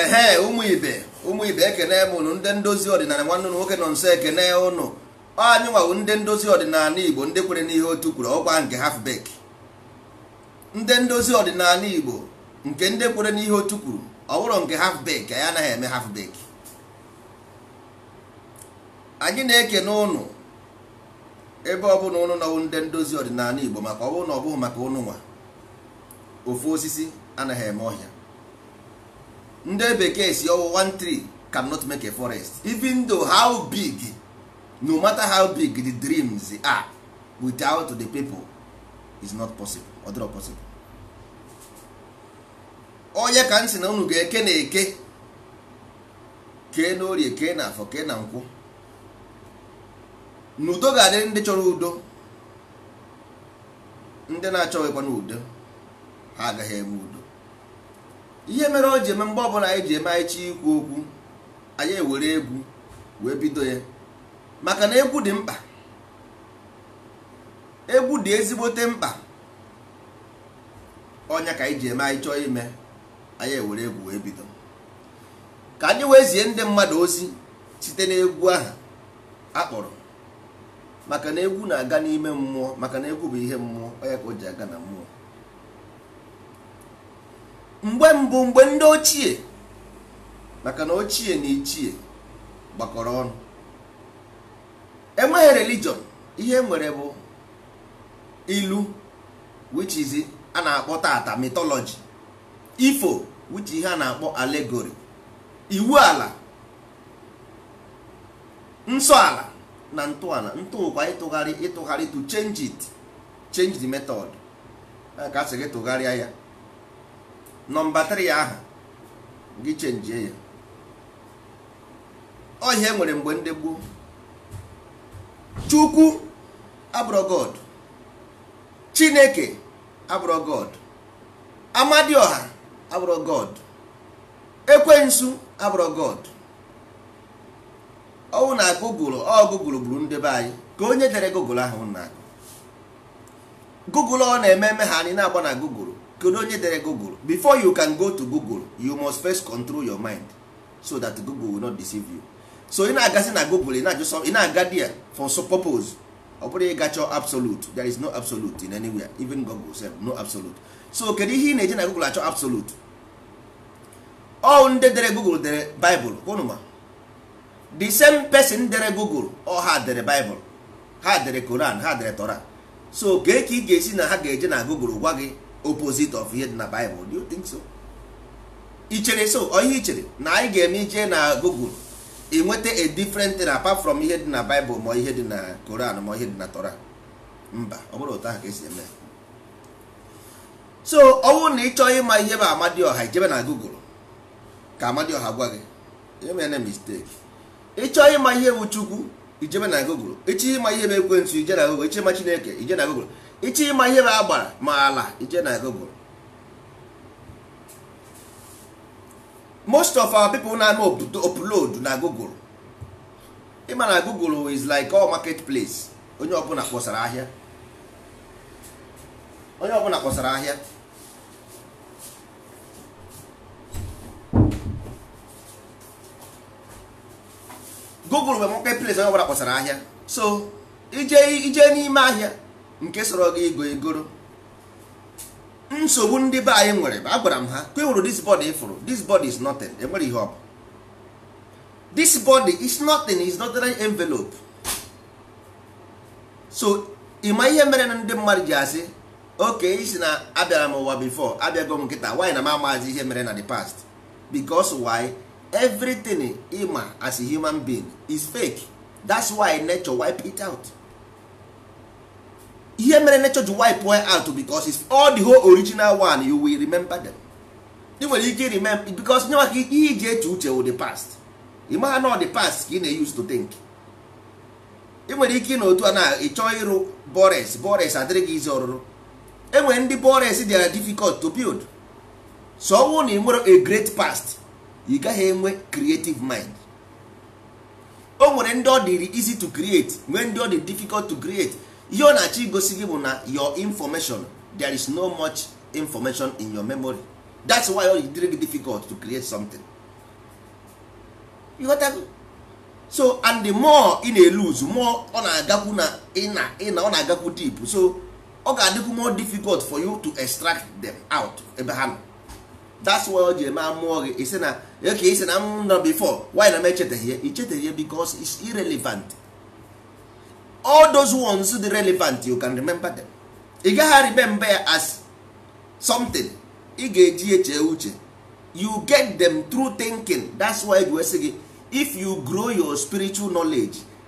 ehe ụmụ ibe ụmụ ibe ekene m ụnụ ndị ndozi ọdịnala nwanne ụnụ nwoke nọnso ekene ụnụ anyị nwa wụ ndị ndozi ọdịnala igbo ndị kwere n'ihe otu kwuru ọ wụkwa nke half bake ndị ndozi ọdịnala igbo nke ndị kwere n'ihe otu kwuru ọ wụrọ nke half bake anyị anaghị eme half bake anyị na-ekene ụnụ ebe ọ bụla ụnụ nọ wụ ndị ndozi ọdịnala Igbo maka ọ bụrụ na ọ bụghị maka ụnụ nwa ofu osisi anaghị eme ọhịa ndị bekee sị ọ wụ one tree cannot make a forest even though how big no matter how big the dreams are without the people is not possible ọ dịrọ possible ọ ya ka m sị na unu ga-eke na eke kee na orie kee na afọ kee na nkwọ na udo ga-adịrị ndị chọrọ udo ndị na-achọghịkwanụ udo ha agaghị eme udo ihe mere o ji eme mgbe ọbụla anyị ji eme anyị chọọ ikwu okwu anyị ewere egwu wee bido ya maka na egwu dị mkpa egwu dị ezigbote mkpa ọ ya ka anyị ji eme anyị chọọ ime anyị ewere egwu wee bido ka anyị wee zie ndị mmadụ ozi site n'egwu ahụ a kpọrọ maka na egwu na-aga n'ime mmụọ maka na egwu bụ ihe mmụọ ọ ya ka o ji aga na mmụọ mgbe mbụ mgbe ndị ochie maka na ochie na ichie gbakọrọ ọnụ enweghị religion ihe e nwere bụ ilu which is a na-akpọ taata mythology ifo which ihe a na-akpọ allegory iwu ala nsọ ala na ntọala ntụkwa ịtụgharị ịtụgharị to change it change the method ka a sị gị tụgharịa ya nọmba 3 aha gị chenjie ya ọ ihe e nwere mgbe ndị gboo chukwu abụrọ god chineke abụrọ god amadiọha abụrọ god ekwensu abụrọ god ọ wụ na google ọ google gburu ndị be anyị ka onye dere google ahụ na-agụ google ọ na-eme eme ha anyị na-agba na google kedu onye dere google before you can go to google you must first control your mind so that google will not deceive you so ị na-agazi na google ị na-aga there for some purpose ọ bụrọ ịga chọọ absolute there is no absolute in anywhere even google sef no absolute so kedu ihe ị na-eji na google achọ absolute ọ ndị dere google dere bible ụnụ ma the same person dere google ọ ha dere bible ha dere koran ha dere tora so kee ka ị ga-esi na ha ga-eje na Google gwa gị opposite of ihe dị na Bible do you think so ichere so ọ ihe ichere na anyị ga-eme ije na Google i nweta a different thing apart from ihe dị na Bible ma ihe dị na Koran ma ihe dị na Torah mba ọ bụrọ otu ahụ ka esi eme so ọ bụrụ na ị chọọ ịma ihe bụ Amadioha ijebe na Google ka Amadioha gwa gị emene mistake ịchọ ịma ihe bụ chukwu ijebe na google ịchọ ịma ihe bụ ekwensu ije na google ịchọ ịma chineke ije na google ịchọ ịma ihe bụ agbara ma ala ije na google most of our people na-eme upload na google ịma na google is like all market place onye ọbụla kpọsara ahịa onye ọbụla kpọsara ahịa google bụ market place onye ọbụla kpọsara ahịa so ije n'ime ahịa nke sọrọ gị igo egoro nsogbu ndị be anyị nwere agwara m ha kwewuru this body ịfụrụ this body is nothing enwerọ ihe ọ bụ this body is nothing is not an envelope so ịma ihe mere na ndị mmadụ ji asị okay ịsị na abịara m ụwa before abịago m kịta why na m amazi ihe mere na the past because why everything ịma as a human being is fake that's why nature wipe it out ihe mere nature ji wipe one out because it's all the whole original one you will remember them ị nwere ike remember because nye maka ihe iji eche uche wụ the past ị maha na ọ the past ka ị na-use to think ị nwere ike na otu a na ịchọ ịrụ bores bores adịrị gị easy ọrụrụ enwere ndị bores dị difficult to build so ọ wụrụ na ị nwerọ a great past ị gaghị enwe creative mind o nwere ndị ọ dịrị easy to create nwee ndị ọ dị difficult to create ihe ọ na-achọ igosi gị bụ na your information there is no much information in your memory that's why ọ dịrị gị difficult to create something you got that? so and the more ị na-eluz more ọ na-agakwu na ịna ịna ọ na-agakwu deep so ọ ga-adịkwu more difficult for you to extract them out ebe ha nọ that's why o ji eme amụọ gị ị sị na okay ị sị na m nọ before why na m echeteghị ya i cheteghị ya because it's irrelevant all those ones dị relevant you can remember them ị gaghị remember ya as something ị ga-eji eche uche you get them through thinking that's why we sị gị if you grow your spiritual knowledge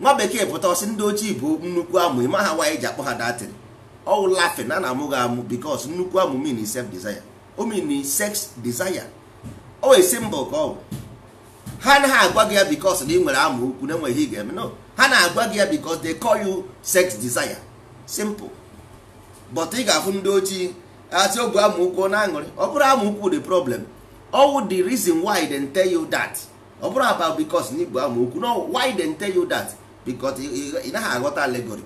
nwa bekee pụta ọ sị ndị ojii bụ nnukwu amụ ị maha why e ji akpọ ha that thing ọ wụ laughing a na-amụ gị amụ because nnukwu amụ mean self desire o mean sex desire ọ wụ symbol ka ọ wụ ha anaghị agwa gị ya because na ị nwere amụ ukwu na enweghị ị ga-eme no ha na-agwa gị ya because they call you sex desire simple but ị ga-afụ ndị ojii a sị o bu amụ ukwu na-aṅụrị ọ bụrụ amụ ukwu the problem ọ wụ the reason why they tell you that ọ bụrụ about because na i bu amụ ukwu no why they tell you that because ị naghị aghọta allegory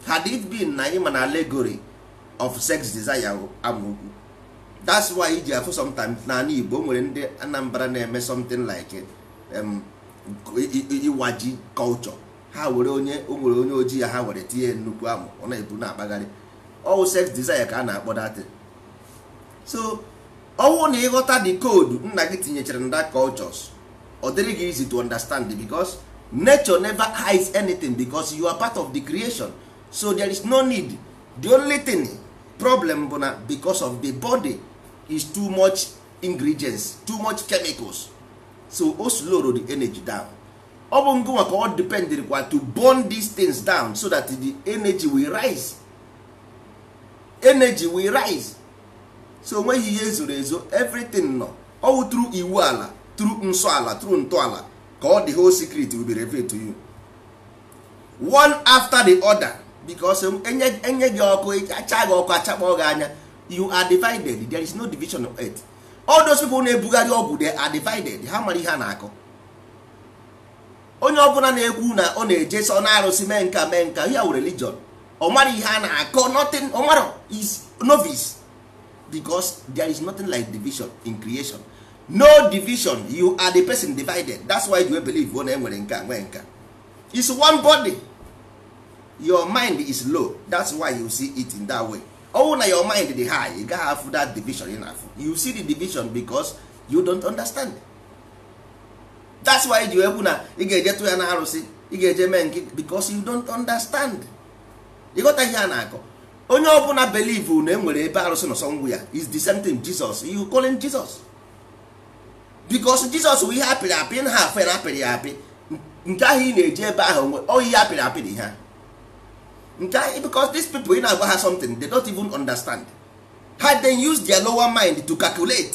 had it been na ị ma na allegory of sex desire amụ ukwu that's why i ji afụ sometimes n'igbo o nwere ndị anambra na-eme something like iwa ji culture ha were onye o nwere onye ojii ya ha were tinye nnukwu amụ ọ na-ebu na-akpagharị ọ wụ sex desire ka a na-akpọ that thing so ọ wụ na ị ghọta the code nna gị tinyechara na that cultures ọ dịrị gị easy to understand because nature never hides anything because you are part of the creation so there is no need the only thing problem bụ na because of the body is too much ingredients too much chemicals so o slow the energy down ọ bụ ngụnwa ka ọ depend kwa to burn these things down so that the energy will rise energy will rise so o nweghị ihe e zoro ezo everything nọ ọ wụ through iwu ala through nsọ ala through ntọala ka all the whole secret will be revealed to you one after the other because e nye gị ọkụ acha gị ọkụ achakpọ gị anya you are divided there is no division of earth all those people na-ebugharị ọgwụ they are divided ha mara ihe a na-akọ onye ọbụla na-ekwu na ọ na-eje sọ na arụsị mee nka mee nka ya were religion ọ mara ihe a na-akọ nothing ọ mara is novice because there is nothing like division in creation no division you are the person divided that's why you believe na e nwere nka nwee nka is one body your mind is low that's why you see it in that way ọ wụ na your mind dị high ị gaghị afụ that division ị na-afụ you see the division because you don't understand that's why i ji ekwu na ị ga-eje tụ ya na arụsị ị ga-eje mee nke because you don't understand ị ghọta ihe a na-akọ onye ọbụla believe na enwere ebe arụsị nọ somewhere is the same thing Jesus you calling Jesus because Jesus bụ ihe apịrị apị na ha afe na apịrị ya apị nke ahụ ị na-eje ebe ahụ nwe ọ ihe apịrị apị dị ha nke ahụ because these people ị na-agwa ha something they don't even understand had they used their lower mind to calculate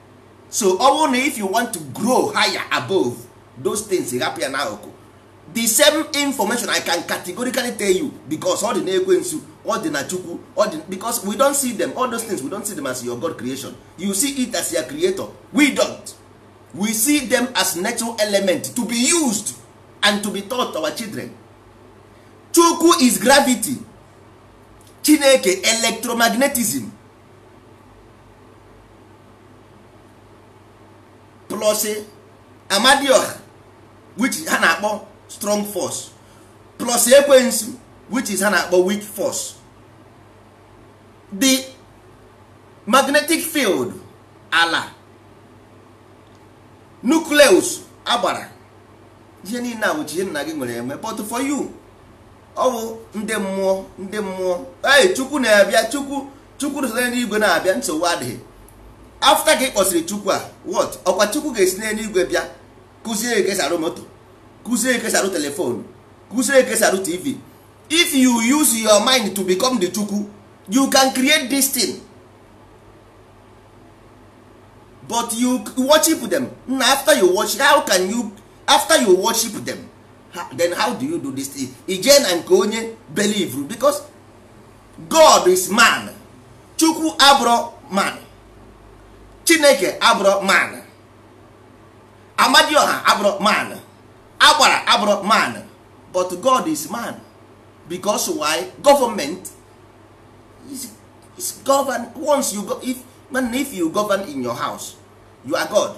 so only if you want to grow higher above those things hapụ ya n'akụkụ the same information i can categorically tell you because ọ dị na ekwensu ọ dị na chukwu because we don't see them all those things we don't see them as your god creation you see it as your creator we don't we see them as natural element to be used and to be taught our children chukwu is gravity chineke electromagnetism plus amadioha which ha na-akpọ strong force plus ekwensu which is ha na-akpọ weak force the magnetic field ala nucleus agbara ihe niile a bụcha ihe nna gị nwere enwe but for you ọ bụ ndị mmụọ ndị mmụọ ee chukwu na-abịa chukwu chukwu nọ n'igwe na-abịa nsogbu adịghị after ka ị kpọsịrị chukwu a what ọkwa chukwu ga-esi n'eluigwe bịa kụzie ka esi arụ moto kụzie ka esi arụ telefonu kụzie ka esi arụ tv if you use your mind to become the chukwu you can create this thing but you worship them na after you worship how can you after you worship them then how do you do this thing i jee na nke onye believe because god is man chukwu abụrọ man chineke abụrọ man amadioha abụrọ man agbara abụrọ man but god is man because why government is govern once you go if you govern in your house you are god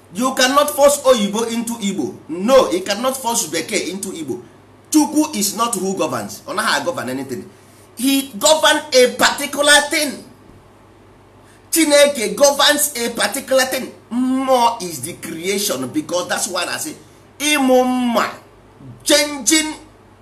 you cannot force oyibo into igbo no you cannot force bekee into igbo chukwu is not who governs ọ naghị agovern anything he govern a particular thing chineke governs a particular thing mmụọ is the creation because that's why I say ịmụ mma changing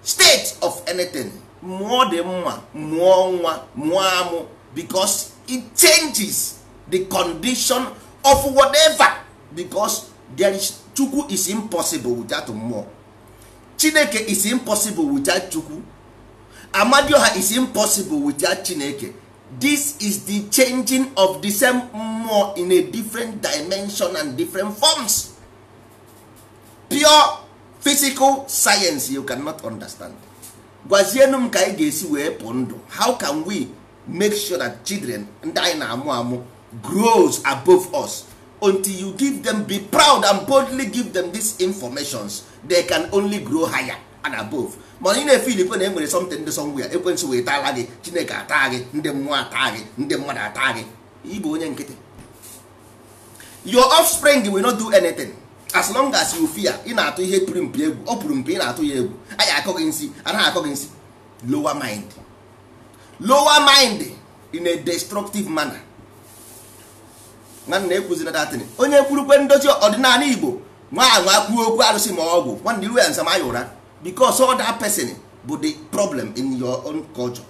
state of anything mụọ dị mma mụọ nwa mụọ amụ because it changes the condition of whatever because there is chukwu is impossible without mmụọ chineke is impossible without chukwu amadioha is impossible without chineke this is the changing of the same mmụọ in a different dimension and different forms pure physical science you cannot understand gwazienu m ka anyị ga-esi wee pụ ndụ how can we make sure that children ndị anyị na-amụ amụ grows above us until you give them be proud and boldly give them these informations they can only grow higher and above mana ị na-efe ilikwe na e nwere something dị somewhere ekwensu wee taala gị chineke ata gị ndị mmụọ ata gị ndị mmadụ ata gị ị bụ onye nkịtị your offspring will not do anything as long as you fear ị na-atụ ihe pụrụ mpi egwu ọ pụrụ mpi ị na-atụ ya egwu anyị akọ gị nsi anaghị akọ gị nsi lower mind lower mind in a destructive manner nwanne ekwuzina that thing onye kwurukwe ndozi ọdịnala igbo nwa anwa kwuo okwu arụsị ma ọgwụ nwanne i ruo ya nso maa ya ụra because all that person bụ the problem in your own culture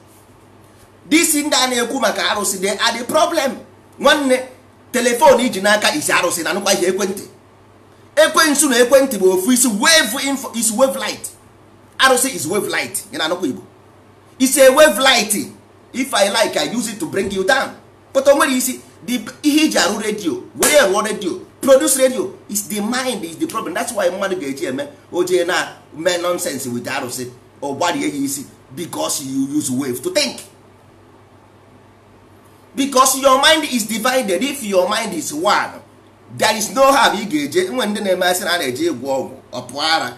this ndị a na-ekwu maka arụsị they are the problem nwanne telefon i ji n'aka is arụsị na-anụkwa ihe ekwentị ekwensu na ekwentị bụ ofu is wave info is wave light arụsị is wave light ị na-anụkwa igbo is a wave light if i like i use it to bring you down but o nwere isi ihe e ji arụ redio were ya rụọ redio produce radio is the mind is the problem that's why mmadụ ga-eji eme o je na-eme nonsense with arụsị ọ gbarie ya isi because you use wave to think because your mind is divided if your mind is one there is no how ị ga-eje nwere ndị na-eme a sị na a na-eje ịgwọ ọgwụ ọ pụọ ara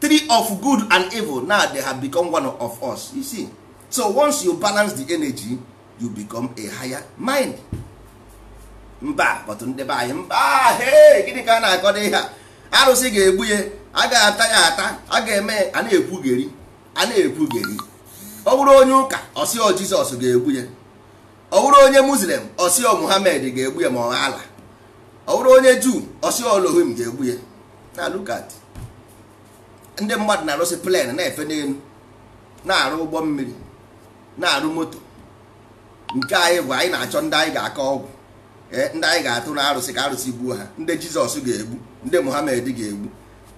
tree of good and evil now they have become one of us you see so once you balance the energy you become a higher mind mba but ndị be anyị mba he gịnị ka a na-akọdo ihe a arụsị ga-egbu ya a ga-ata ya ata a ga-eme a na-ekwugheri a na-ekwugheri ọ bụrụ onye ụka ọ sị ọ jizọs ga-egbu ya ọ bụrụ onye muslim ọ sị ọ muhammad ga-egbu ya ma ọ allah ọ bụrụ onye juu ọ sị ọ elohim ga-egbu ya now look at ndị mmadụ na-arụsi plen na-efe n'elu na-arụ ụgbọ mmiri na-arụ moto nke anyị bụ anyị na-achọ ndị anyị ga-akọ ọgwụ eh, ndị anyị ga-atụ na arụsị ka arụsị gbuo ha ndị jizọs ga-egbu ndị muhammad ga-egbu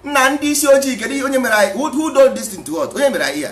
nna ndị isi ojii kedu onye mere anyị who did this thing to us onye mere anyị ya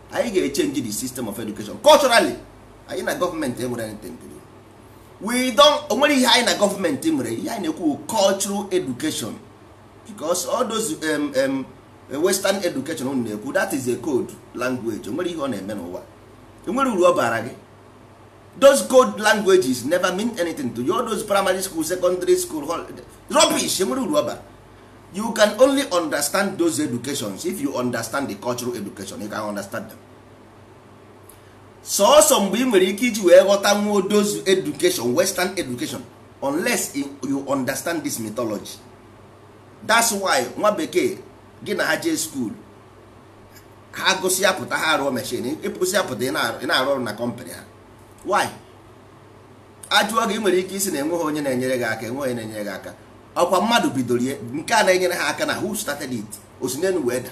anyị ga-echenji the system of education culturally anyị na gọọmenti enwere anything to do we don't onwere ihe anyị na gọọmenti nwere ihe anyị na-ekwu cultural education because all those um, um, western education unu na-ekwu that is a code language onwere ihe ọ na-eme n'ụwa onwere uru ọ bara gị those code languages never mean anything to you all those primary school secondary school rubbish onwere uru ọ bara you can only understand those educations if you understand the cultural education you can understand them sọọsọ mgbe ị nwere ike iji wee ghọta nwa those education western education unless you understand this mythology that's why nwa bekee gị na ha jee school ha gụsịa pụta ha arụọ mechin ị gụsịa pụta ị na-arụ ọrụ na kọmpanị ha why a jụọ gị ị nwere ike ịsị na enweghị onye na-enyere gị aka enweghị onye na-enyere gị aka ọkwa mmadụ bidoro ihe nke a na-enyere ha aka na who started it o si n'enu wee daa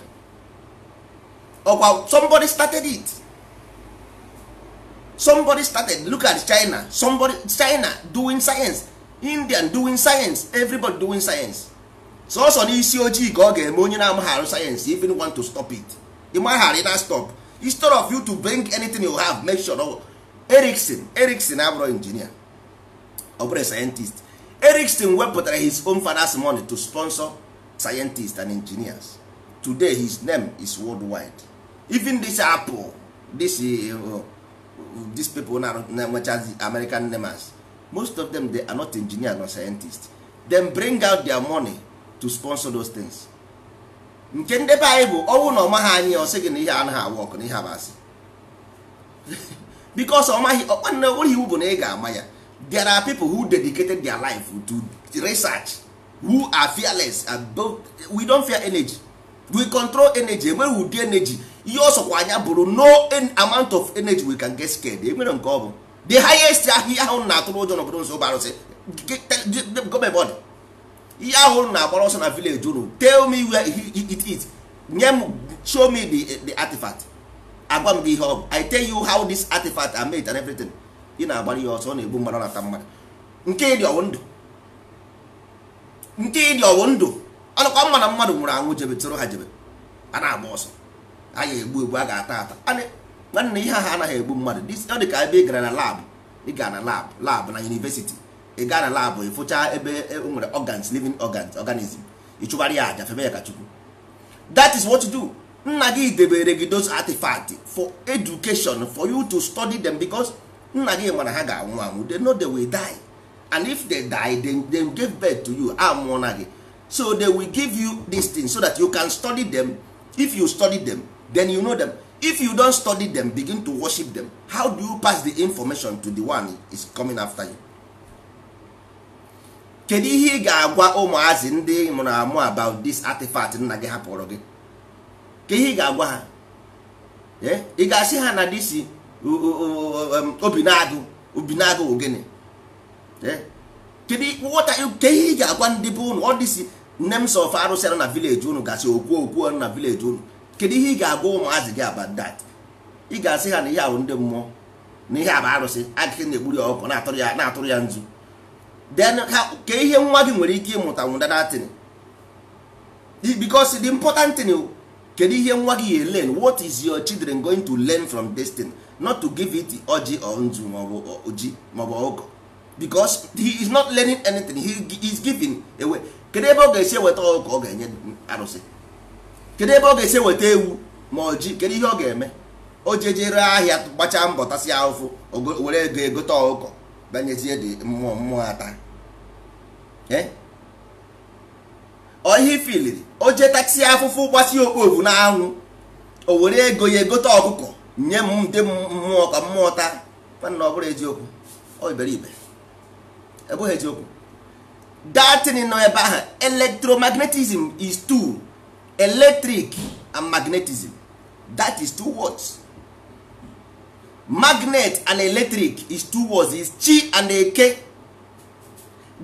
ọkwa somebody started it somebody started look at china somebody china doing science indian doing science everybody doing science sọsọ n'isi ojii ka ọ ga-eme onye na-amaghị arụ sayensị even want to stop it ị maghị arụ ị na-astop instead of you to bring anything you have make sure Ericsson Ericsson abụrụ injinia ọ bụrụ sayentist Ericsson wepụtara his own father's money to sponsor scientists and engineers today his name is worldwide even this apple this uh, these people na-enwechazi American names most of them they are not engineer nor scientist them bring out their money to sponsor those things nke ndị be anyị bụ ọ wụ na ọ maghị anyị ọ sị gị na ihe anaghị awọkụ na ihe a bụ asị because ọ maghị ọkwa na onweghị iwu bụ na ị ga-ama ya there are people who dedicated their life to research who are fearless and don't, we don't fear energy we control energy enweghị ụdị energy ihe ọ sọkwara ya bụrụ no amount of energy we can get scared enwere nke ọ bụ the highest ihe ahụ a na-atụrụ ụjọ n'obodo unu sị ọ bụ arụsị gọọmenti ihe ahụ a na-agbara ọsọ na village unu tell me where it is nye m show me the, the artifact agwa m gị ihe ọ bụ i tell you how this artifact are made and everything ị na-agbara ya ọsọ ọ na-egbu mmadụ na-ata mmadụ nke ị dị ọ wụ ndụ nke ị dị ọ wụ ndụ ọ dịkwa mma na mmadụ nwụrụ anwụ jebe tụrụ ha jebe a na-agba ọsọ a ga-egbu egbu a ga-ata ata nwanne ihe ha anaghị egbu mmadụ ọ dị ka ebe ị gara na lab ị gara na lab lab na yunivesiti ị gaa na labụ ị fụcha ebe e nwere organs living organs organism ị chụbara ya aja febe ya ka chukwu that is what you do nna gị debere gị those artifact for education for you to study them because nna gị ma na ha ga-anwụ anwụ they know they will die and if they die they, they give birth to you a mụọna gị so they will give you this thing so that you can study them if you study them then you know them if you don't study them begin to worship them how do you pass the information to the one is coming after you kedu ihe ị ga-agwa ụmụazị ndị mụrụ amụ about this artifact nna gị hapụrụ gị kee ihe ị ga-agwa ha eh? ị ga-asị ha na this Obinagụ Obinagụ ogene eh? kedu ihe ị ga-agwa ndị be unu all these names of arụsị na village unu gasị okwu okwu na village unu kedu ihe ị ga-agwa ụmụazị gị about that ị ga-asị ha na ihe a wụ ndị mmụọ na ihe a bụ arụsị agịghị na-egburu ya ọkụkọ na-atụrụ ya na-atụrụ ya nzu then kee ihe nwa gị nwere ike ịmụta n'ụdị that thing because the important thing kedu ihe nwa gị ya learn what is your children going to learn from this thing not to give it ọjị or nzu maọbụ oji maọbụ ọkụkọ because he is not learning anything he is giving away kedu ebe ọ ga-esi eweta ọkụkọ ọ ga-enye arụsị kedu ebe ọ ga-esi eweta ewu ma ọjị kedu ihe ọ ga-eme o jejere ahịa gbachaa mbọ tasịa afụfụ were ego egote ọkụkọ bịa nyezie ndị mmụọ mmụọ ata eh? ọ ihe ifiliri o je tasịa afụfụ gbasie okpovu na anwụ o were ego ya egote ọkụkọ nye ndị mmụọ ka mmụọ taa nwanna ọ bụrọ eziokwu ọ iberibe ọ bụghị eziokwu that thing nọ ebe ahụ electromagnetism is two electric and magnetism that is two words magnet and electric is two words is chi and eke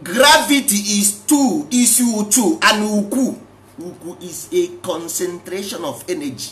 gravity is two is uchu and uku uku is a concentration of energy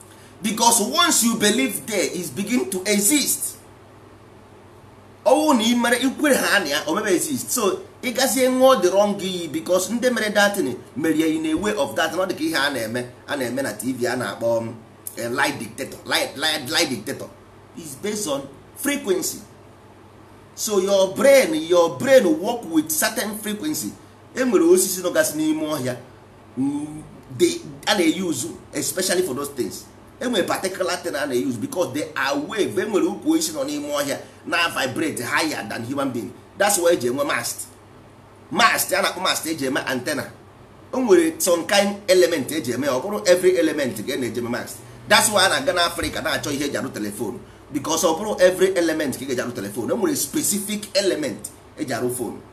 because once you believe there is begin to exist ọ wụrụ na i mere i kwere ha na ya o mebe exist so ị gazie ṅụọ the wrong iyi because ndị mere that thing mere ya in a way of that ọ dị ka ihe a na-eme a na-eme na tv a na-akpọ um, eh, lie detector lie, lie, lie detector is based on frequency so your brain your brain work with certain frequency enwere osisi nọgasị n'ime ọhịa mm, a na-use especially for those things enwere particular thing a na-use because they are wave enwere ukwu osisi nọ n'ime ọhịa na-vibrate higher than human being that's why eji enwe mast mast a na-akpọ mast eji eme antenna o nwere some kind element eji eme ọ bụrọ every element ka a na-eji eme mast that's why a na-aga na Africa na-achọ ihe eji arụ telephone because ọ bụrọ every element ka ị ga-eji arụ telephone e nwere specific element eji arụ phone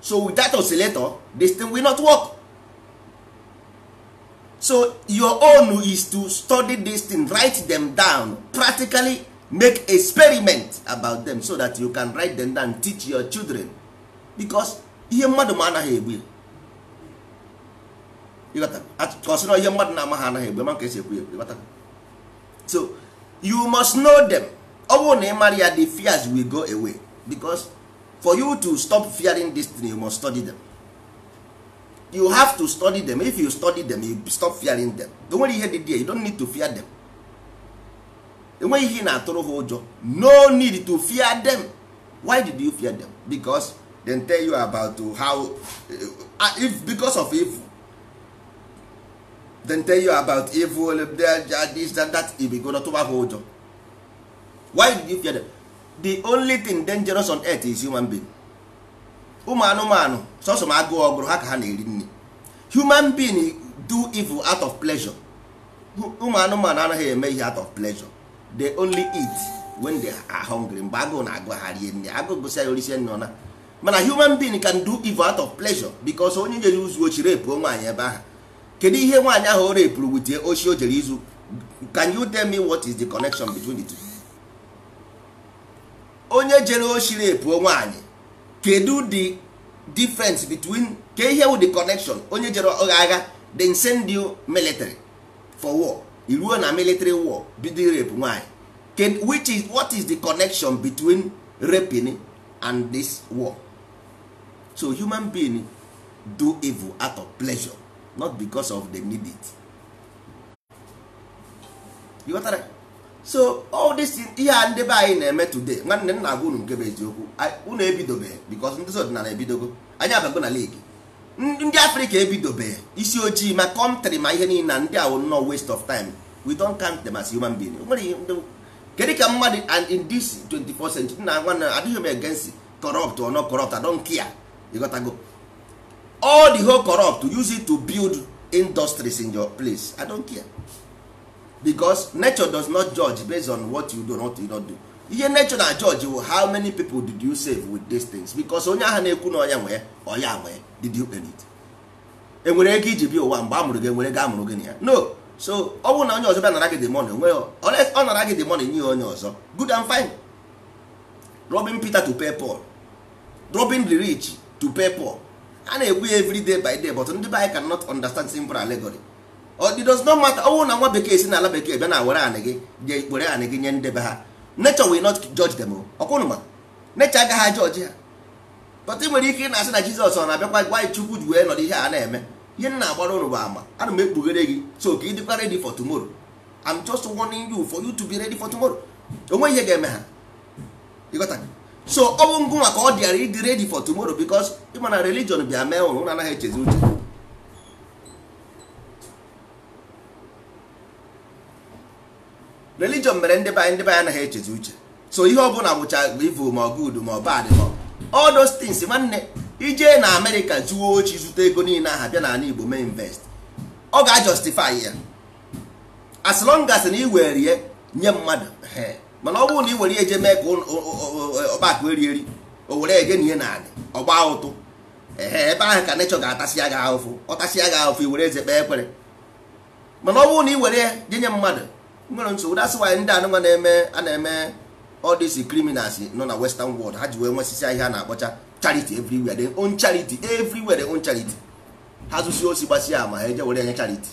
so without oscillator this thing will not work so your own is to study this thing write them down practically make experiment about them so that you can write them down teach your children because ihe mmadụ ma anaghị egbu ya ka ọ sị na ihe mmadụ na-ama ha anaghị egbu ya ma ka e si ekwu ya so you must know them ọ bụrụ na ị mara ya the fears will go away because for you to stop fearing this thing you must study them you have to study them if you study them you stop fearing them enwere ihe dị there you don't need to fear them enweghị ihe na-atụrụ ha ụjọ no need to fear them why did you fear them because they tell you about how uh, if because of evil they tell you about evil this that that you begin to tụba ha ụjọ why did you fear them the only thing dangerous on earth is human being ụmụ anụmanụ sọsọ ma agụụ ọ gụrụ ha ka ha na-eri nri human being do evil out of pleasure ụmụ anụmanụ anaghị eme ihe out of pleasure they only eat when they are hungry mgbe agụụ na-agụ ha rie nri agụụ gụsịa ya o risie nri ọ naa mana human being can do evil out of pleasure because onye jere izu oshi repuo nwaanyị ebe ahụ kedu ihe nwaanyị ahụ o repuru with the oshi o jere izu can you tell me what is the connection between the two? onye jere oshi repuo nwaanyị kedu the difference between kee ihe wụ the connection onye jere agha then send you military for war i ruo na military war bido rape nwaanyị which is what is the connection between raping and this war so human being do evil out of pleasure not because of they need it so all this ihe a ndị be anyị na-eme today nwanne m na-agwa unu nke bụ eziokwu unu ebidobeghị because ndị ọdịnala ebidogo anyị abago na league ndị afrịka ebidobeghị isi ojii ma country ma ihe niile na ndị a wụ nnọọ waste of time we don't count them as human being nwere ihe ndị kedu ka mmadụ and in this 24 century nna nwanne adịghị m against corrupt or not corrupt I don't care you got to go all the whole corrupt use it to build industries in your place i don't care because nature does not judge based on what you do and what you don't do ihe nature na judge wụ how many people did you save with these things because onye ahụ na-ekwu na ọ ya nwe ọ ya nwe did you earn it e nwere ego i ji bịa ụwa mgbe a mụrụ gị e nwere ego a mụrụ gị na ya no so ọ bụrụ na onye ọzọ bịa nara gị the money onwe ọ nara gị the money nye onye ọzọ good and fine robbing Peter to pay Paul robbing the rich to pay poor a na-ekwu ya every day by day but ndị be anyị cannot understand simple allegory it does not matter ọ wụ na nwa bekee si n'ala bekee bịa na were anị gị je were anị gị nye ndị be ha nature will not judge them ọ kwa ụnụ ma nature agaghị a-judge ha but i nwere ike ị na-asị na Jizọs ọ na-abịakwa gwa anyị Chukwu ji wee nọdụ ihe a na-eme ihe m na-agbara ụnụ bụ ama ana m ekpughere gị so ka ị dịkwa ready for tomorrow I'm just warning you for you to be ready for tomorrow o nwe ihe ga-eme ha so ọ bụ ngịnwa ka ọ dịara ịdị ready for tomorrow because ị ma na religion bịa mee ụnụ ụnụ anaghị echezi uche religion mere ndị be anyị ndị be anyị anaghị echezi uche so ihe ọ bụla bụcha evil ma ọ good ma ọ bad ma all those things nwanne i jee na amerịka zuo oshi zute ego niile ahụ bịa n'ala igbo mee invest ọ ga-ajustify ya as long as na i were ya nye mmadụ mana ọ bụrụ na ị were ya je mee ka ọkpa akụ eri eri o were je nie ya n'anị ọ gbaa ụtụ ehe ebe ahụ ka nature ga-atasịa gị afụfụ ọ tasịa gị afụfụ i werezie kpee ekpere mana ọ bụrụ na ị were ya je nye mmadụ nwere nsogbu that's why ndị anụnwa na-eme a na-eme all these criminals nọ na western world ha ji wee nwesịsịa ihe a na-akpọcha charity everywhere they own charity everywhere they own charity ha zusịa osi gbasịa ama ha eje were nye charity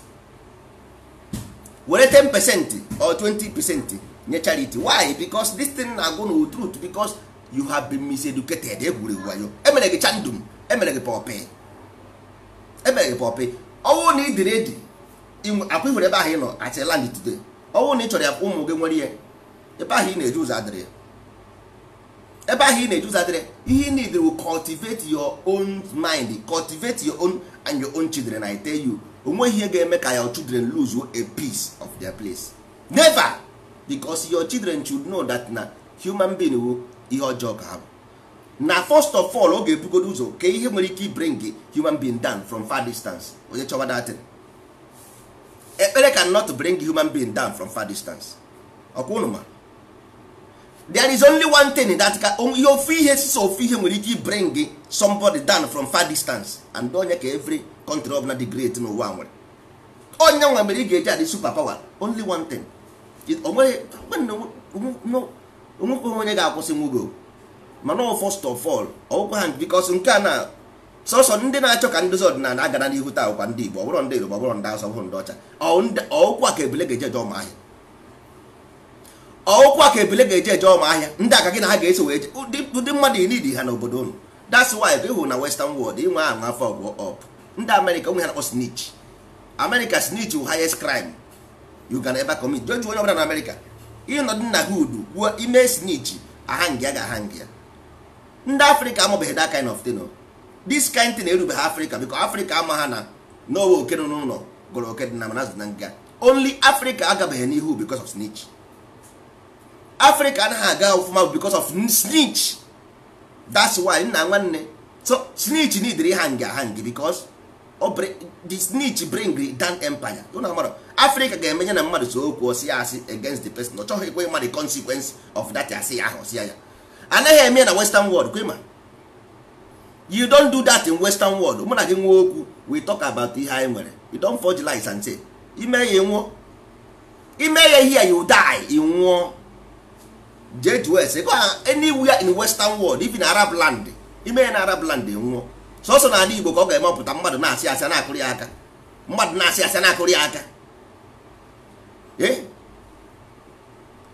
were 10 percent or 20 percent nye charity why because this thing na-agwa ụnụ truth because you have been miseducated egwuregwu wayo e mere gị chandum e mere gị pọpị e mere gị pọpị ọ wụ na ị dị ready ka i nwere ebe ahụ ị nọ as land today ọ wụ na ị chọrọ ka ụmụ gị nwere ihe ebe ahụ ị na-eji ụzọ adịrị ya ebe ahụ ị na-eji ụzọ adịrị ihe ị need wụ cultivate your own mind cultivate your own and your own children I tell you o nweghị ihe ga-eme ka your children lose a piece of their place never because your children should know that na human being wụ ihe ọjọọ ka ha bụ na first of all ọ ga-ebugodo ụzọ kee ihe nwere ike bring human being down from far distance onye chọwa that thing ekpere cannot bring human being down from far distance ọ kwa ụnụ ma there is only one thing that ka ihe ofu ihe sọsọ ofu ihe nwere ike ịbring somebody down from far distance and ọ ya ka every country ọbụna dị great n'ụwa nwere ọ yanwa mere ị ga-eji adị super power only one thing o nwekwe onye ga-akwụsịnwu gị o mana first of all ọ wụkwa ha because nke a na sọsọ ndị na-achọ ka ndozi ọdịnala agara n'ihu taa ọ wụkwa ndị Igbo ọ bụrụ ndị Yoruba ọ bụrụ ndị Hausa ọ bụrụ ndị ọcha ọ wụkwa ka ebele ga-eje eje ọma ahịa ọ wụkwa ka ebele ga-eje eje ọma ahịa ndị aka gị na ha ga-eso wee je ụdị mmadụ ị need ha n'obodo unu that's why ị hụ na western world inwe ahụ afọ ọgwụ ọp ndị Amerịka o nwe ihe ha na-akpọ snitch Amerịka snitch wụ highest crime you can ever commit je jụọ onye ọbụla na Amerịka ị nọdụ na hood kwuo i mee snitch a hanga gị ahanga ndị afrịka amabeghị that kind of thing o. this kind thing erubeghị afrịka because afrịka ama ha na n'owe oke nọ n'ụlọ gwara oke dị n'ama na azụ na nga only afrịka agabeghị n'ihu because of snitch afrịka anaghị aga ọfụma because of snitch that's why nna nwanne so snitch needịrị ha nga ha ngi because ọ bri- the snitch bring down empire unu amara afrịka ga-emenye na mmadụ so okwu o sie asị against the person ọ chọghị ikwe ịma the consequence of that asị ya ahụ o sị ya ya a naghị eme na western world kwe ma you don't do that in western world mụ na gị nwe okwu we talk about ihe anyị nwere you don't forge lies and say i mee ya nwụọ i mee ya here you die ị nwụọ jee jụọ ese go anywhere in western world even arab land i mee ya na arab land nwụọ sọsọ na ala igbo ka ọ ga-emepụta mmadụ na-asị asị na-akụrụ ya aka mmadụ na-asị asị na-akụrụ ya aka ee eh?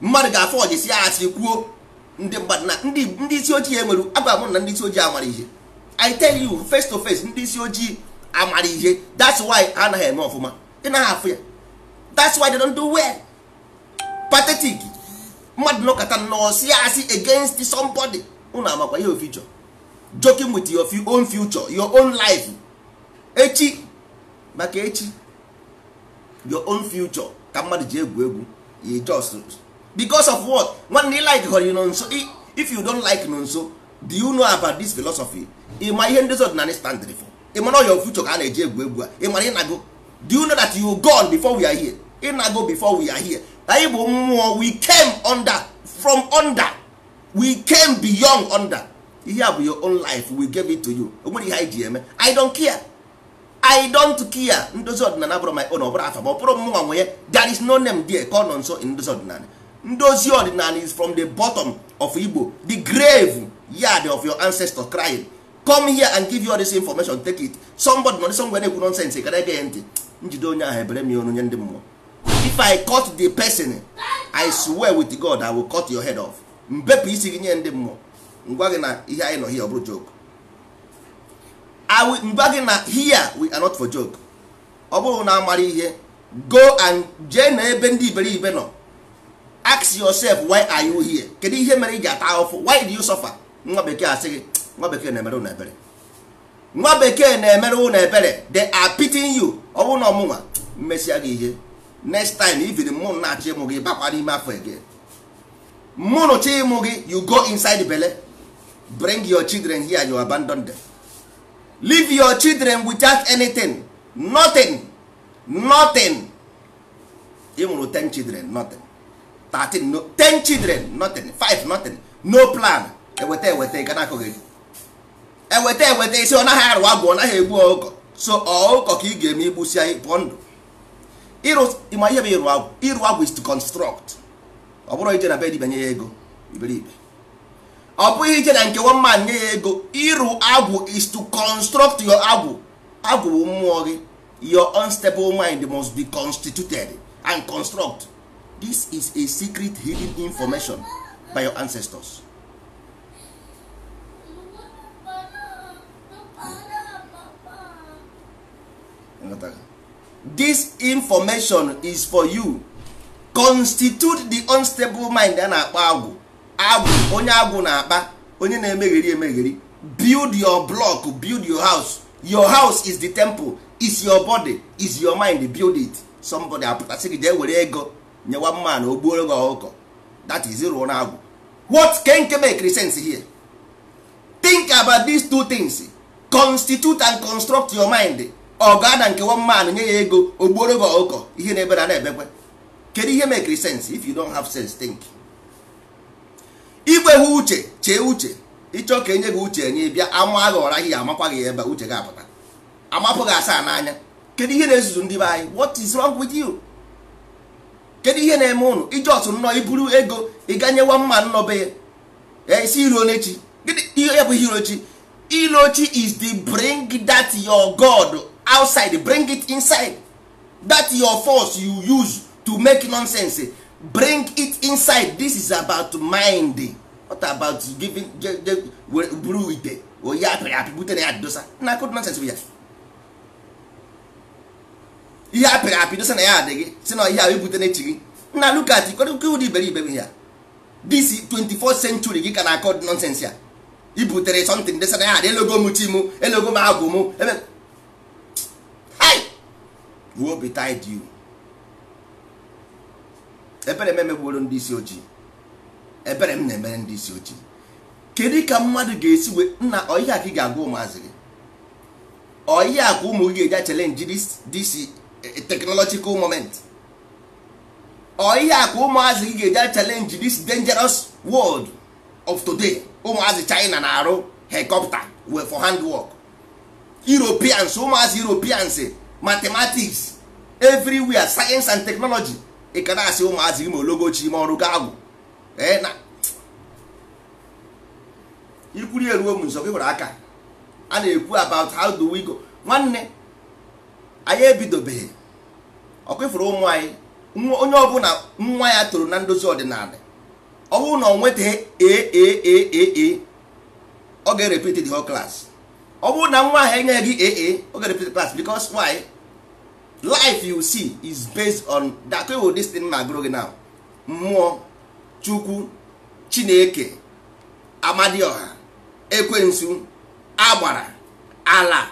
mmadụ ga-aforge sie asị kwuo ndị mmadụ na ndị isi ojii enwere agwa m na ndị isi ojii amarọ ihe i tell you face to face ndị isi ojii amarọ ihe that's why ha anaghị eme ọfụma ị naghị afụ ya that's why they don't do well pathetic mmadụ nọkata nọọ sie asị against somebody unu amakwa ihe ọ future joking with your own future your own life echi maka echi your own future ka mmadụ ji egwu egwu you just because of what nwanne like họrọ nọnso if you don't like nọnso do you know about this philosophy ị ma ihe ndozi ọdịnala stand for ị mara your future ka a na-eji egwu egwu a ị mara ị nago do you know that you gone before we are here ị nago before we are here anyị bụ mmụọ we came under from under we came beyond under ihe a bụ your own life we gave it to you o nwere ihe anyị ji eme i don't care i don't care ndozi ọdịnala abụrọ my own ọ bụrọ afa m ọ bụrọ mụnwa nwe ya there is no name there called nọnso in ndozi ọdịnala ndozi ọdịnala is from the bottom of igbo the grave yard of your ancestors crying come here and give you all this information take it somebody nọ somewhere na-ekwu nonsense gara ege ya ntị m jide onye ahụ ebee m ya onu nye ndị mmụọ if i catch the person i swear with god i will cut your head off m bepụ isi gị nye ndị mmụọ m gwa gị na ihe anyị nọ here abụrọ joke m gwa gị na here we are not for joke ọ bụrụ na amarọ ihe go and jee na ebe ndị iberibe nọ ask yourself why are you here kedu ihe mere ị ji ata ahụfụ why do you suffer nwa bekee asị gị nwa bekee na-emere unu ebere nwa bekee na-emere unu ebere they are pitying you ọ bụrụ na ọ mụnwa m mesịa gị ihe next time even mụ na-achị ịmụ gị bakwa n'ime afọ again mmụọ nụcha ịmụ gị you go inside bele bring your children here you abandon them leave your children without anything nothing nothing ị mụrụ 10 children nothing 13 no 10 children nothing 5 nothing no plan eweta eweta ị ga na-akụ gị eweta eweta ị sị ọ naghị arụ agwụ ọ naghị egbu ọkụkọ so ọkụkọ ka ị ga-eme igbusi anyị pụọ ndụ ịrụ ị ma ihe bụ ịrụ agwụ ịrụ agwụ is to construct ọ bụrọ ije na be dibịa nye ya ego iberibe ọ bụghị ije na nke one man nye ya ego ịrụ agwụ is to construct your agwụ agwụ bụ mmụọ gị your unstable mind must be constituted and construct this is a secret hidden information by your ancestors ị ghọtara this information is for you constitute the unstable mind a na-akpọ agwụ agwụ onye agwụ na-akpa onye na-emegheri emegheri build your block build your house your house is the temple is your body is your mind build it somebody apụta sị gị jee were ego nye one man na o gbuoro gị ọkụkọ that is ị rụọna agwụ what kee nke make sense here think about these two things constitute and construct your mind or gaa na nke one man nye ya ego o gbuoro gị ọkụkọ ihe na-ebe na na-ebekwe kedu ihe make sense if you don't have sense think i nwehụ uche chee uche ị chọ ka e nye gị uche enye bịa ama gị ọra gị amakwa gị ebe uche gị apụta amapụ gị asaa n'anya kedu ihe na-ezuzu ndị be anyị what is wrong with you kedu ihe na-eme ụnụ ị just nọọ i buru ego ị ga nye one man nọ be ya eh, ị sị i loone chi ihe ya bụ ihe ilo chi ilo chi is to bring that your god outside bring it inside that your force you use to make nonsense bring it inside this is about mind what about giving buru ite oyi atụrụ ya bute na ya dosa na-akọdụ nonsense bụ ya ihe a pịrị apị dosa na ya adịghị sị na ihe ahụ i bute na echi gị na look at ikwerekwe ụdị iberibe ya this 24th century gị ka na-akọ nonsense ya i butere something dosa na ya adị elogo m chi m elogo m agwụ m ebe hai woe betide you ebere m emegbuoro ndị isi ojii ebere m na-emere ndị isi ojii kedu ka mmadụ ga-esi wee nna ọ ihe a ka ị ga-agwa ụmụazị gị ọ ihe a ka ụmụ gị ga-eji challenge this this eh, technological moment ọ ihe a ka ụmụazị gị ga-eji challenge this dangerous world of today ụmụazị China na-arụ helicopter for handwork Europeans ụmụazị Europeans mathematics everywhere science and technology ị ka na-asị ụmụazị gị ma ologochi ma ọrụ ga-agwụ na ikwuri eruo m nso gị were aka a na-ekwu about how do we go nwanne anyị ebidobeghị ọkwa ifuru ụmụ anyị onye ọbụla nwa ya toro na ndozi ọdịnala ọ bụrụ na o nwetaghị A ọ ga-erepeat the whole class ọ bụrụ na nwa ahụ enyeghị gị A ọ ga-erepeat class because why life you see is based on that way this thing na-agụrụ gị now mmụọ chukwu chineke amadioha ekwensu agbara ala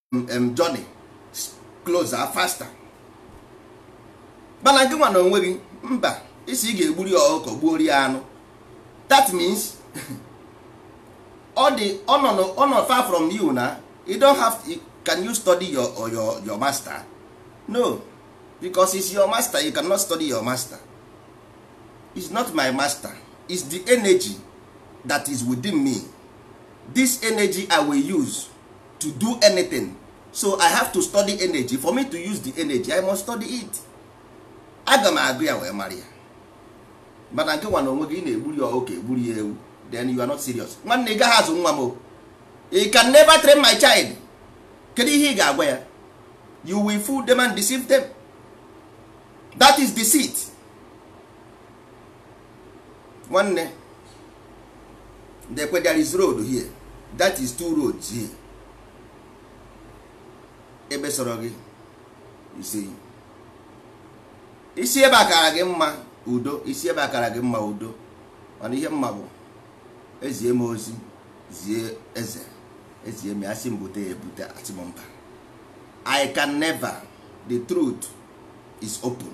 em journey closer faster mana gị nwa na onwe gị mba ị sị ị ga-egburi ọkụkọ gbuo rie anụ that means ọ dị nnọọ far from you na you don't have to, can you study your, your, your master no because it's your master you cannot study your master it's not my master it's the energy that is within me this energy i will use to do anything so i have to study energy for me to use the energy i must study it aga m agụ ya wee mara ya mana nke nwa na onwe gị ị na-egburi ya oke egburi ya ewu then you are not serious nwanne ị gaghị azụ nwa m o you can never train my child kedu ihe ị ga-agwa ya you will fool them and deceive them that is deceit nwanne lekwe there is road here that is two roads here ebe sọrọ gị i si i si ebe a kara gị mma udo i si ebe a kara gị mma udo mana ihe m ma bụ ezie m ozi zie eze ezie m asị m bute ebute asị m mba i can never the truth is open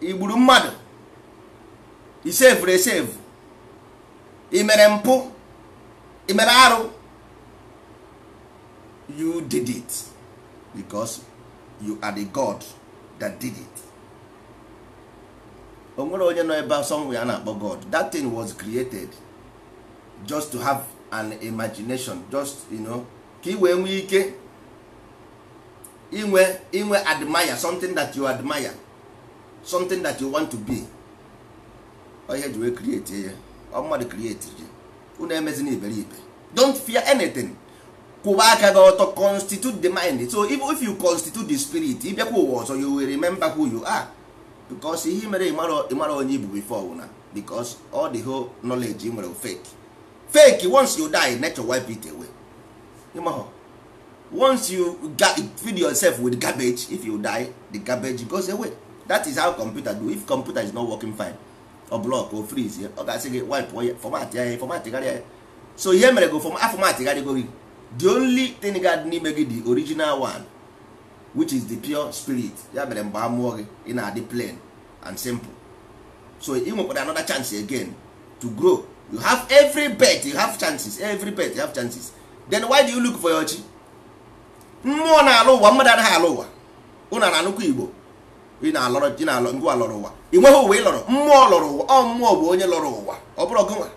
i gburu mmadụ i sevuru esevu i mere mpụ i mere arụ you did it because you are the god that did it o nwere onye nọ ebe somewhere a na-akpọ god that thing was created just to have an imagination just you know ka i wee nwee ike inwe inwe admire something that you admire something that you want to be ihe e ji wee create ya ọ mmadụ create chi unu emezina iberibe don't fear anything kwụba aka gị ọtọ constitute the mind so even if you constitute the spirit ị bịakwa ụwa ọzọ you will remember who you are because ihe mere ị marọ onye ị bụ before wụ na because all the whole knowledge ị nwere fake fake once you die nature wipe it away ị mahọ once you feed yourself with garbage if you die the garbage goes away that is how computer do if computer is not working fine ọ block ọ freeze ọ ga-asị gị wipe ya format ya formatgharịa ya so ihe mere go a formatgharịgo gị the only thing ga-adị n'ime gị the original one which is the pure spirit ya mere mgbe a mụọ gị ị na-adị plain and simple so ị nwekwara another chance again to grow you have every birth you have chances every birth you have chances then why do you look for your chi mmụọ na-alọ ụwa mmadụ anaghị alọ ụwa ụnụ na-anụkwa igbo ị na-alọrọ ị na-alọ ngwa lọrọ ụwa ị nweghị ụwa ị lọrọ mmụọ lọrọ ụwa ọ mmụọ bụ onye lọrọ ụwa ọ bụrọ gịnwa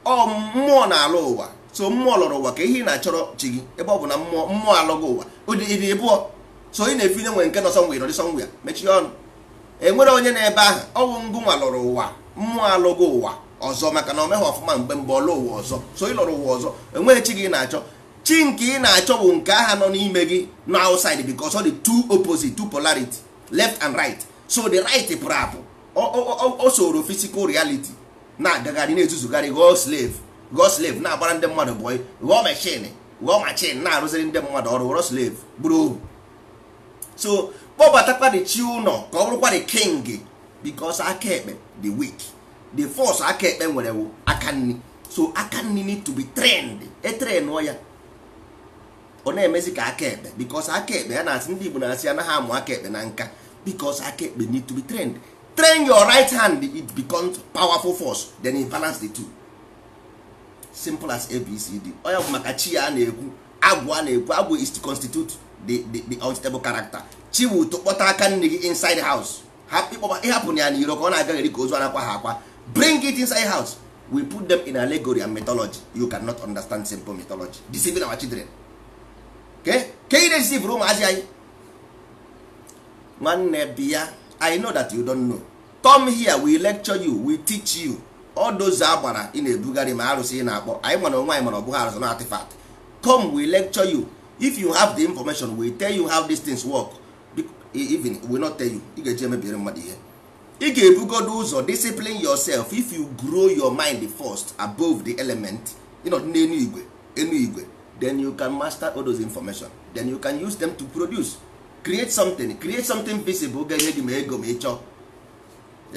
ọ mmụọ na-alọ ụwa so mmụọ lọrọ ụwa ke ihe ị na-achọrọ chi gị ebe ọ bụ na mmụọ mmụọ alọgo ụwa ị dị ị dị ịbụọ so ị na-efeel na e nwere nke nọ somewhere nọdị somewhere ya mechie ọnụ enwerọ onye nọ ebe ahụ ọ wụ ngụnwa lọrọ ụwa mmụọ alọgo ụwa ọzọ maka na o meghị ọfụma mgbe mbụ ọ lọ ụwa ọzọ so ị lọrọ ụwa ọzọ enweghị chi gị na-achọ chi nke ị na-achọ bụ nke aha nọ n'ime gị not outside because ọ dị two opposite two polarity left and right so the right pụrụ apụ o soro physical reality na-agagharị na-ezuzugharị ghọọ slave ghọọ slave na-agbara ndị mmadụ bọị ghọọ machine ghọọ machine na-arụziri ndị mmadụ ọrụ ghọrọ slave bụrụ ohu so kpọbatakwa the chi ụnọ ka ọ bụrụkwa the king because aka ekpe dị weak the force aka ekpe nwere wụ aka nni so aka nni need to be trained e trainụọ ya ọ na-emezi ka aka ekpe because aka ekpe ya na-asị ndị Igbo na-asị anaghị amụ aka ekpe na nka because aka ekpe need to be trained train your right hand it becomes powerful force then you balance the two simple as abcd ọ ya bụ maka chi a na-ekwu agwụ a na-ekwu agwụ is to constitute the the the unstable character chi bụ to kpọta aka nni gị inside house ha ị kpọba ị hapụna ya n'iro ka ọ na-agagheri ka ozu a na-akwahọ akwa bring it inside house we put them in allegory and mythology you cannot understand simple mythology deceiving our children ke ke ị na-edeceivụrụ ụmụazị anyị nwanne bịa i know that you don't know come here we lecture you we teach you all those agbara ị na-ebugharị ma arụsị ị na-akpọ anyị ma na o nwe anyị ma na ọ bụghị arụsị na artifact come we lecture you if you have the information we tell you how these things work even we not tell you ị ga-eji emebiere mmadụ ihe ị ga-ebugodo ụzọ discipline yourself if you grow your mind first above the element ị nọdụ n'enu igwe enu igwe then you can master all those information then you can use them to produce create something create something visible ga-enye gị ma ego ma ị chọọ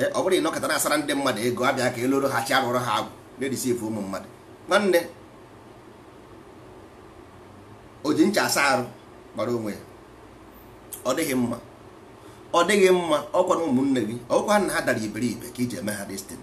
eh, ọ bụrọ ị nọkata na-asara ndị mmadụ ego a bịa ka e loro ha chi a rụọrọ ha agwụ na-edeceive ụmụ mmadụ nwanne o ji ncha asa arụ mara onwe ya ọ dịghị mma ọ dịghị mma ọ kwanụ ụmụnne gị ọ kwa na ha dara iberibe ka i ji eme ha this thing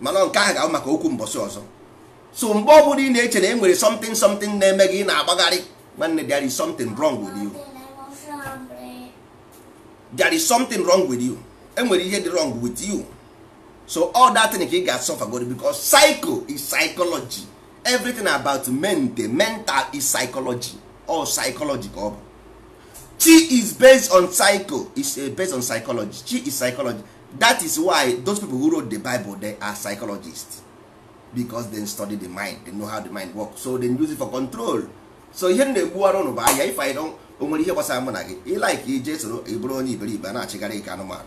mana nke ahụ ga-abụ maka okwu mbọsị ọzọ so mgbe ọ bụla ị na-eche na e nwere something something na-eme gị ị na-agbagharị nwanne there is something wrong with you there is something wrong with you e nwere ihe dị wrong with you so ọ that thing ka ị ga-asolve godu because psycho is psychology everything about men the mental is psychology ọ psychology ka ọ bụ chi is based on psycho is eh, based on psychology chi is psychology that is why those people who wrote the bible they are psychologists because they study the mind they know how the mind works so they use it for control so ihe m na-egbuwara ụnụ bụ anya ife anyị o nwerọ ihe gbasara mụ na gị ị like i jee soro ị bụrụ onye iberibe a na-achịgharị ka anụmanụ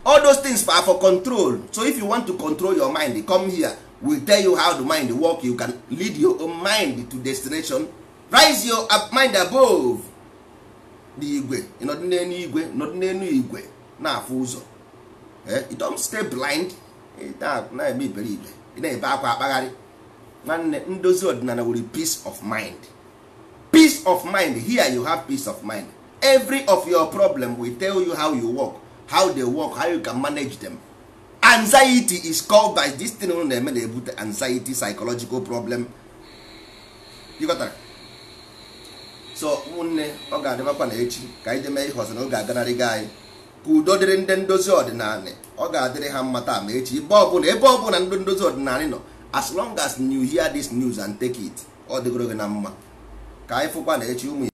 all those things are for control so if you want to control your mind come here we tell you how the mind work you can lead your own mind to destination rise your mind above the igwe ị nọdụ n'enu igwe nọdụ n'enu igwe na-afụ ụzọ eh, you don't stay blind na-eme iberibe ị na-ebe akwa akpagharị nwanne ndozi ọdịnanị wụrị peace of mind peace of mind here you have peace of mind every of your problem we tell you how you work how they work how you can manage them anxiety is caused by this thing unu na-eme na-ebute anxiety psychological problem ị ghọtara? so ụmụnne ọ ga-adịmakwa na echi ka anyị je mee ihe ọzọ na oge aganarịgo anyị ka udo dịrị ndị ndozi ọdịnanị ọ ga-adịrị ha mma taa ma echi ebe ọbụla ebe ọbụla ndị ndozi ọdịnanị nọ as long as you hear this news and take it ọ dịgoro gị na mma ka anyị fụkwa na echi ụmụ